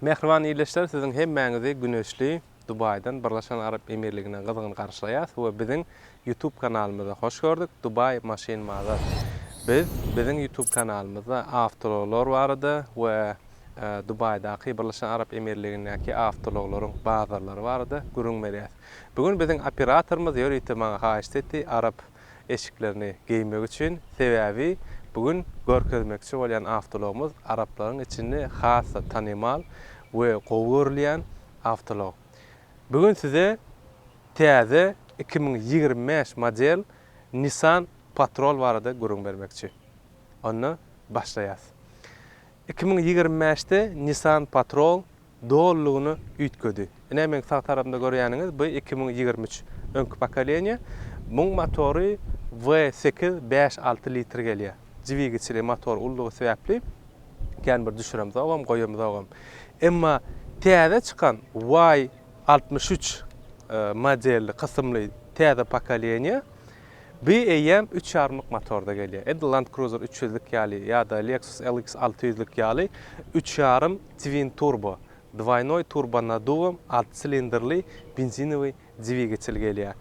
Mähriban ildeşler siziň hemmäňizi güneşli Dubaýdan Birleşen Arap Emirligine gyzgyn garşylaýas we biziň YouTube kanalymyza hoş gördük Dubai Maşyn Mazar Biz biziň YouTube kanalymyzda awtoulaglar barada we Dubaýdaky Birleşen Arap Emirligindäki awtoulaglaryň bazarlary barada gürüň berýäs. Bu gün biziň operatorymyz ýörite maňa haýyşt etdi Arap eşiklerini geýmegi üçin, sebäbi bu gün görkezmekçi bolýan awtologumyz araplaryň içinde has-da tanymal we gowy görülýän awtolog. Bu gün size täze iki müň ýigrimi bäş model Nissan Patrol barada gürrüň bermekçi. Onda başlaýas. Iki müň ýigrimi bäşde Nissan Patrol Dolulygyna üýtgedi. Ine meň sag tarapymda görýäniňiz bu iki müň ýigrimi üç öňki pokoleniýa. Muň motory W sekiz bäş alty litr gelýär. Dwigiçli motor ullugy sebäpli kän bir düşüremzogam, goýamzogam. Emma täze çykan Y altmyş üç modelli kysymly täze pokoleniýa bi eýýäm üç ýarymlyk motorda gelýär. Edil Land Cruiser üç ýüzlik ýaly ýa-da Lexus LX alty ýüzlik ýaly üç ýarym Twin-turbo, dwoýnoý turbonadduwym, alty silindrli benzinowy dwigatel gelýär.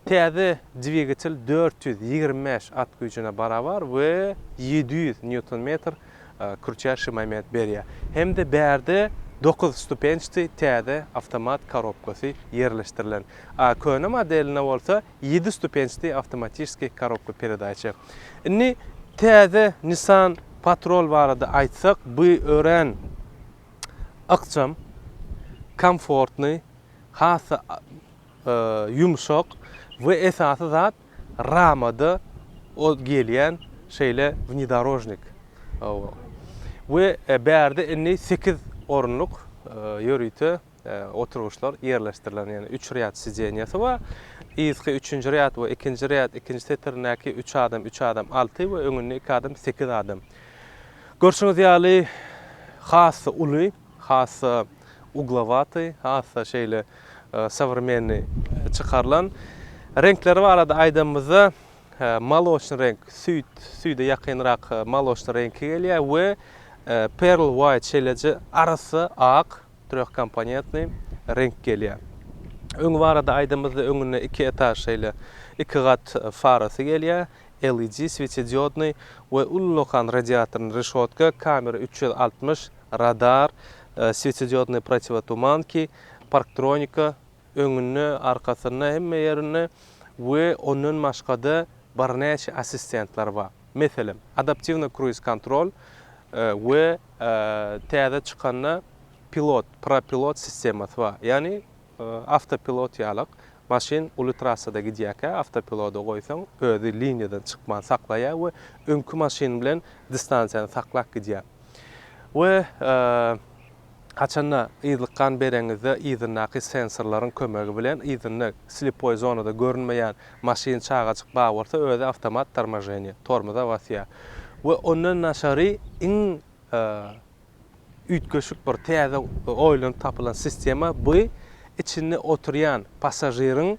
Täze dwigatel dört ýüz ýigrimi bäş at güýjüne barabar we ýedi ýüz nýuton-metr kürçäşi moment berýär. Hem-de bärde dokuz stupençdi täze awtomat korobkasy ýerleşdirilen. Köne modelinde bolsa ýedi stupençdi awtomatiçskiý korobka peredaça. Indi täze Nissan Patrol barada aýtsak, bu örän ykjam, komfortny, has-da ýumşak we esasy zat ramada o gelýän şeýle wnidorožnik we bärde indi sekiz orunlyk ýörite Oturgyçlar ýerleşdirilen, ýagny üç rýad sidenýasy bar. Yzky üçünji rýad we ikinji rýad, ikinji setirindäki üç adam, üç adam alty we öňünde iki adam sekiz adam. Görşüňiz ýaly, has-da uly, has-da uglowaty, has-da şeýle sowremenni çykarylan. Reňkleri barada aýdanymyzda, moloçnyý reňk, süýt, süýde ýakynrak moloçnyý reňki gelýär we pearl white, şeýleje arassa ak. Trýohkomponentnyý reňk gelýär. Öňi barada aýdymyzda öňünde iki etaž şeýle iki gat farasy gelýär, LED, swetediodnyý we uly okan radiatorny reşotka, kamera üç ýüz altmyş, radar, swetediodnyý protiwotumanki, parktronika, öňünde, arkasynda, hemme ýerinde we ondan başgada birnäçe assistentler bar. Meselem, adaptiwny kruiz-kontrol we täze çykanda pilot, propilot sistemasy bar. Ýagny awtopilot ýalak, maşyn uly trassada gidýärkä awtopiloda goýsaň, özi liniýadan çykman saklaýar we öňki maşyn bilen distansiýany saklap gidýär. We. Haçanda yzlyk gan bereňizde yzyndaky sensorlaryň kömegi bilen yzynda slipoý zonada görünmeýän maşyn, çagajyk bar bolsa özi awtomat tormojeniýe, tormoza basýar. We ondan daşary iň üýtgeşik bir täze oýlanyp tapylan sistema bu içinde oturýan passažiriň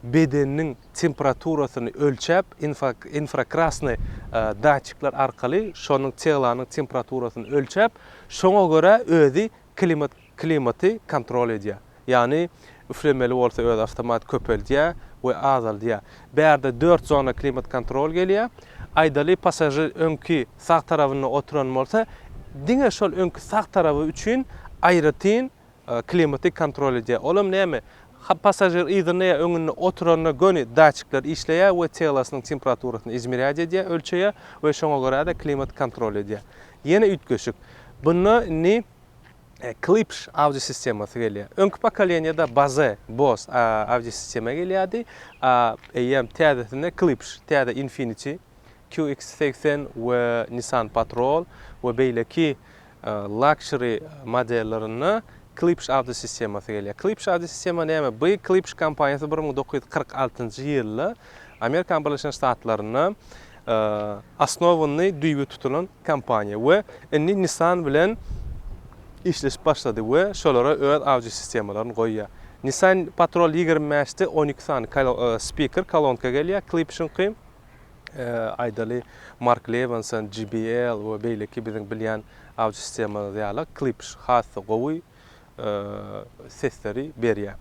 bedeniniň temperaturasyny ölçäp infrakrasny datçikler arkaly şonuň teglanyň temperaturasyny ölçäp Şoňa görä özi klimat klimaty kontrol edýär. Ýagny üflemeli bolsa özi awtomat köpeldýär we azaldýar. Bärde dört zona klimat kontrol gelýär. Aýdaly passažir öňki sag tarabynda oturan bolsa diňe şol öňki sag taraby üçin aýratyn Klimaty kontrol edýär. Olam näme? Hap passažir yzynda ýa öňünde oturanda göni datçikler işleýär we telasynyň temperaturasyny izmerýat edýär, ölçeýär we şoňa görä-de klimat kontrol edýär. Ýene üýtgeşik. Bunda indi Klipsch audio sistemasy gelýär. Öňki pokoleniýada Bose, Bose, audio sistema gelýärdi. Eýýäm täzesinde Klipsch, täze Infiniti, QX segsen we Nissan Patrol we beýleki Luxury modellerinde Klipsch audio sistemasy gelýär. Klipsch audio sistema näme? Bu Klipsch kompaniýasy bir müň dokuz ýüz kyrk altynjy ýylda Amerikanyň Birleşen Ştatlarynda osnowany, düýbi tutulan kompaniýa we indi Nissan bilen işleşip başlady we şolara öz audio sistemalaryny goýýar. Nissan Patrol ýigrimi bäşde on iki sany spiker, kolonka gelýär, Klipschyňky. Aýdaly, Mark Lewenson, JBL we beýleki biziň bilýän audio sistemalarymyz ýaly Klipsch has-da gowy sesleri berýär.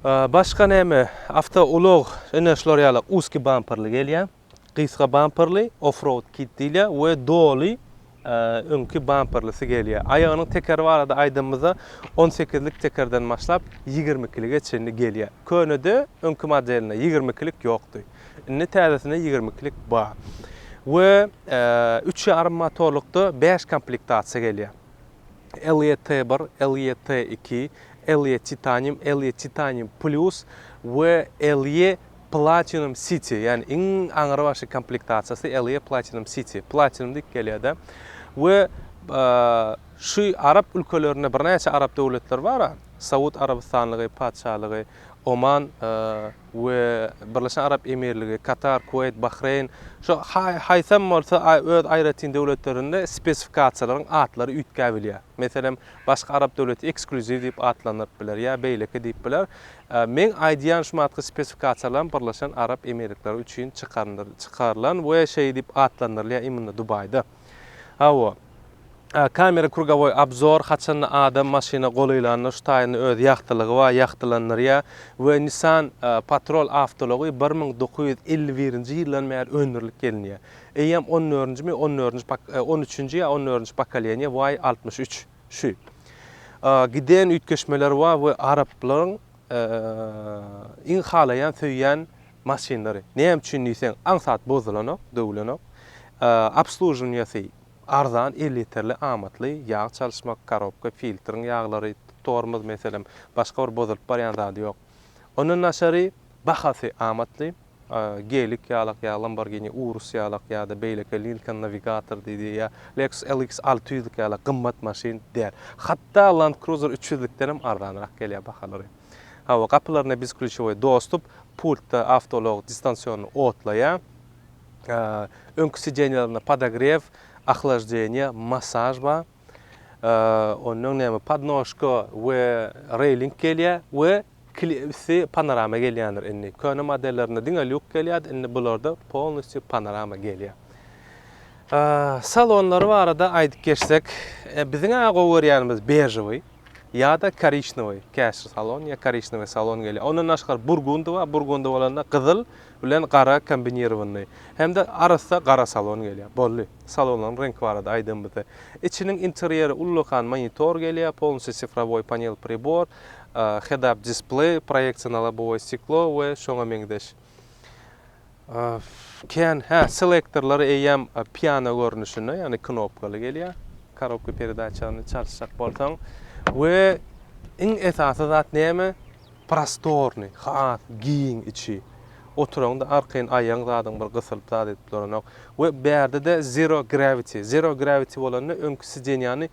Başga näme? Awtoulag ine şular ýaly uski bamperli gelýär. Gysga bamperli, off-road kit diýilýär we doly öňki bamperlisy gelýär. Aýagynyň tekeri barada aýdanymyzda on sekizlik tekerden başlap ýigrimi ikilige çenli gelýär. Könede öňki modelinde ýigrimi ikilik ýokdy. Indi täzesinde ýigrimi ikilik bar. We üç ýarym motorlykda bäş komplektasiýa gelýär. Elliot T bir, Elliot T iki, Elliot Titanium, Elliot Titanium Plus we Elliot Platinum City, ýagny iň aňrybaşy komplektasiýasy LE Platinum City, Platinum diýip gelýär-de. We şu arap ülkelerinde birnäçe arap döwletleri bar-a, Saud Arabystanlygy, Patyşalygy, Oman we Birleşen Arap Emirligi, Katar, Kuweýt, Bahreýn, şu haýsam bolsa öz aýratyn döwletlerinde spesifikasiýalaryň atlary üýtgäbilýär. Meselem, başga arap döwleti eksklýuziw diýip atlandyryp biler ýa beýleki diýip biler. Meň aýdýan şu matky spesifikasiýalam Birleşen Arap Emirlikleri üçin çykarylan we şeý diýip atlandyrylýar imunda Dubaýda. Hawa. Kamera krugowoý obzor haçanda adam maşyna golaýlanda şu taýynda öz ýagtylygy bar ýagtylandyrýar we Nissan Patrol awtoulagy bir müň dokuz ýüz elli birinji ýyldan bäri öndürilip gelinýär. Eýýäm on dördünjimi on dördünji on üçünji ýa on dördünji pokoleniýa Way altmyş üç. Şu. A. Giden üýtgeşmeler bar we araplaryň iň halaýan söýýän maşynlary. Näme üçin diýseň aňsat bozulanok, döwülenok. Obsluživnýasy arzan, elýeterli, amatly, ýag çalyşmak, karobka, filtriň ýaglary, tormoz meselem, başga bir bozulyp barýan zady ýok. Ondan daşary bahasy amatly. Gelik ýalak ýa Lamborghini Urus ýalak ýa-da beýleki Lincoln Navigator diýdi ýa Lexus LX alty ýüzlik ýalak gymmat maşyn däl. Hatda Land Cruiser üç ýüzlükdenem arzanrak gelýär bahalary. Hawa, gapylaryna biz klýuçowy dostup, pultda awtoulag distansionny otlaýar. Öňki sideniýalarynda podogrew, ohlaždeniýe, masaž bar. Ondan näme, podnožka we reýling gelýär we Klipsi panorama gelýändir indi. Köne modellerinde diňe lýuk gelýärdi, indi bularda polnistýu panorama gelýär. Salonlary barada aýdyp geçsek, biziň-ä gowy görýänimiz bežowy ýa-da korişnewoý, käşir salon ýa korişnewoý salon gelýär. Ondan daşgary burgundy bar, burgundy bolanda gyzyl bilen gara kombinirowanyny hem-de arassa gara salon gelýär. Boldy. Salonlaryň reňki barada aýdanymyzda. Içiniň interýeri ullakan monitor gelýär, polnistýu sifrowoý panel pribor, head-up displeý, proýeksiýa lobowe stiklo we şoňa meňzeş. Kän, hä, selektorlar eýýäm piano görnüşinde, ýagny knopkaly gelýär. Korobka peredaçany çalyşjak bolsaň we iň esasy zat näme? Prostornyý, has giň içi. Oturaňda arkaýyn aýagyň zadyň bir gysylyp zat edip duranok we bärde-de zero gravity. Zero gravity bolanda öňki sidenýany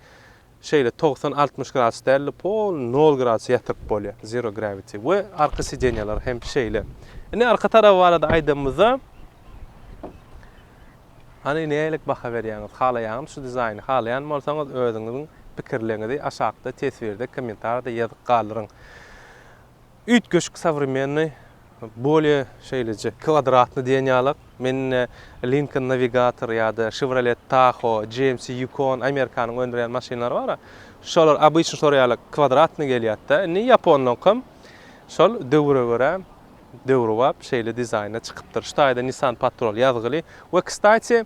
Şeýle togsan altmyş gradus däl-de pol nol gradus ýatyryp bolýar, zero gravity, we arka sideniýalar hem şeýle. Indi arka tarap barada aýdanymyzda hany nähililik baha berýäňiz, halaýaňyz şu dizaýny, halaýan bolsaňyz özüňiziň pikirleňizi aşakda teswirde, kommentarda ýazyp galdyryň. Üýtgeşik sowremennyý, bolýa şeýleje kwodratnyý diýen ýalak. Men indi Lincoln Navigator ýa-da Chevrolet Tahoe, GMC Yukon, Amerikanyň öndürýän maşynlary bar-a, şolar obyçnyý şolar ýaly kwodratnyý gelýärdi-de, indi ýaponlaňkam şol döwüre görä döwrebap şeýle dizaýnda çykypdyr. Şu taýda Nissan Patrol ýazgyly we kstati,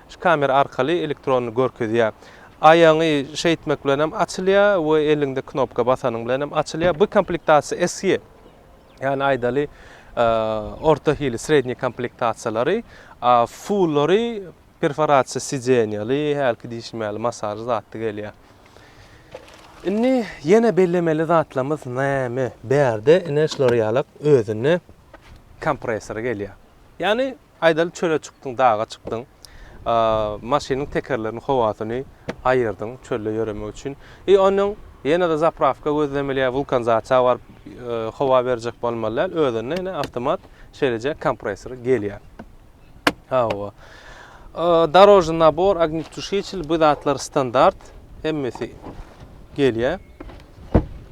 Şu kamera arkaly elektron görkezýär. Aýagyňy şeýtmek bilen hem açylýar we eliňde knopka basanyň bilen hem açylýar. Bu komplektasiýa SE. Ýani aýdaly orta hili, srednýi komplektasiýalary. A fullary perforasiýa sidenýaly, hälki diýşim ýaly masažly zatly gelýär. Indi ýene bellemeli zatlarymyz näme? Bärde ine şular ýalak özünde kompresor gelýär. Ýani Aýdaly çöle çykdyň, daga çykdyň. Maşynyň tekerleriniň howasyny aýyrdyň çölde ýöremek üçin. I onnoň ýene-de zaprawka gözlemeli ýa wulkanzaçja baryp howa berjek bolmaly däl, özünde ýene awtomat şeýleje kompresor gelýär. Hawa. Dorožny nabor, ognetuşiçil bu zatlar standart hemmesi gelýär.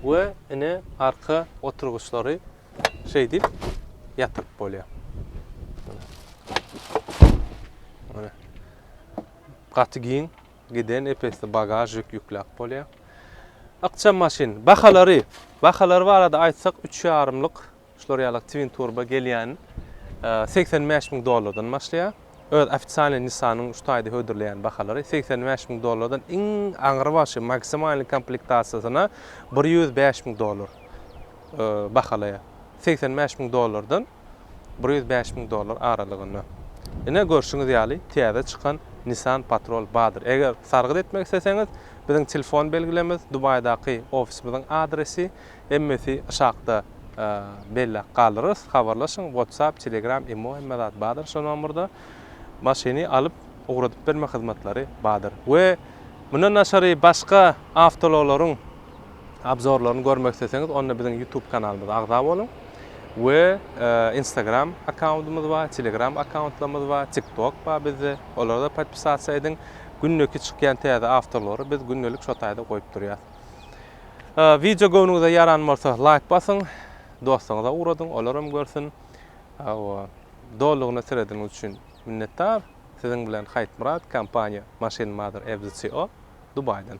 We ine arka oturgyçlary şeýdip ýatyryp bolýar. Mine. Gaty giň giden epesli bagaž ýük ýükläp bolýar. Ykjam maşyn. Bahalary, bahalary barada aýtsak 3,5-lyk şular ýaly twin turbo gelýän 85 e, müň dollardan başlaýar. Öz ofitsialny Nissan-yň şu taýda hödürleýän bahalary 85 müň dollardan iň aňry başy maksimalny komplektasiýasyna 105 müň dollar. bahalaýar. Segsen bäş müň dollardan bir ýüz bäş müň dollar aralygynda. Ine, görşüňiz ýaly, täze çykan Nissan Patrol bardyr. Eger sargyt etmek isleseňiz, biziň telefon belgilemiz, Dubaýdaky ofisimiziň adresi, emmesi aşakda belläp galdyrarys. Habarlaşyň, WhatsApp, Telegram, imo hemme zat bardyr şo nomerda. Maşyny alyp, ugradyp berme hyzmatlary bardyr. We mundan daşary başga awtoulaglaryň. obzorlaryny görmek isleseňiz onda biziň YouTube kanalymyza agza boluň we Instagram akkauntymyz bar, Telegram akkauntlarymyz bar, TikTok bar bizde. Olara da podpisasiýa ediň. Gündeki çykýan täze awtorlary biz gündelik şo taýda goýup durýas. Wideo göwnüňize ýaran bolsa laýk basyň, dostlaryňyza ugradyň, olar hem görsün. Hawa, dolugyna seredeniňiz üçin minnetdar. Siziň bilen Haýtmyrat, kompaniýa Machine Mother Ebzi CO, Dubaýdan.